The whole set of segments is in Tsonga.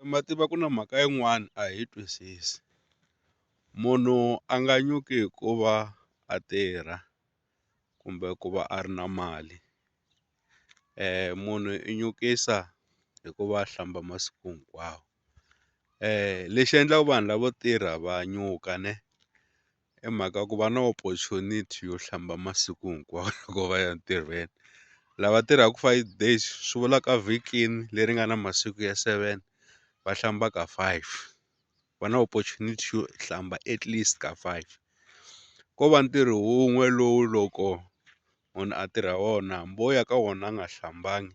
Ma tiva ku na mhaka yin'wana a hi twisisi munhu a nga nyuki hikuva a tirha kumbe ku va a ri na mali munhu i nyukisa hikuva a hlamba masiku hinkwawo lexi endlaka vanhu lavo tirha va nyuka ne I mhaka ku va na opportunity yo hlamba masiku hinkwawo loko va ya ntirhweni lava tirhaka five days swi vula ka vhikini leri nga na masiku ya seven va hlamba ka five va na opportunity yo hlamba at least ka five ko va ntirho wun'we lowu loko munhu a tirha wona hambi wo ya ka wona a nga hlambangi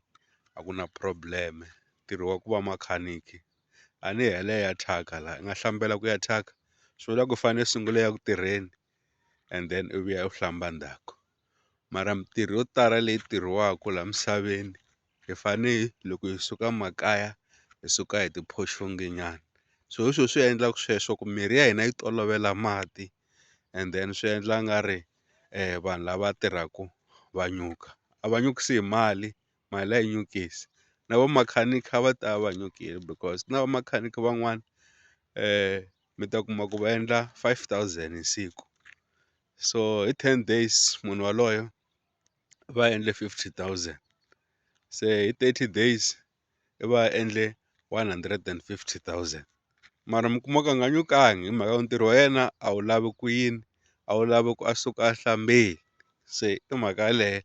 a ku na problem ntirho wa ku va makhaniki. a ni yi hela yi ya thyaka la i nga hlambela ku ya thyaka swi vula ku fane i sungula i ya ku tirheni and then i vuya u hlamba ndzhaku mara mintirho yo tala leyi tirhiwaku la misaveni hi fane loko hi suka makaya hi suka hi ti phoxonge nyana so hi swo swi endlaku sweswo ku mirhi ya hina yi tolovela mati and then swi endla nga ri vanhu lava tirhaku va nyuka a va nyukisi hi mali mali a yi nyukisi na va makhanikha va ta va nyukile because na va makhanikha van'wana mi ta kuma ku va endla five thousand hi siku so hi ten days munhu waloyo va endle fifty thousand se hi thirty days i va a endle one hundred and fifty thousand mara mi kuma ku a nga nyukangi hi mhaka yo ntirho wa yena a wu lavi ku yini a wu lavi ku a suka a hlambile se i mhaka yaleyo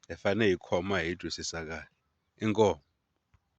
hi fane hi khoma hi twisisa kahle inkomu.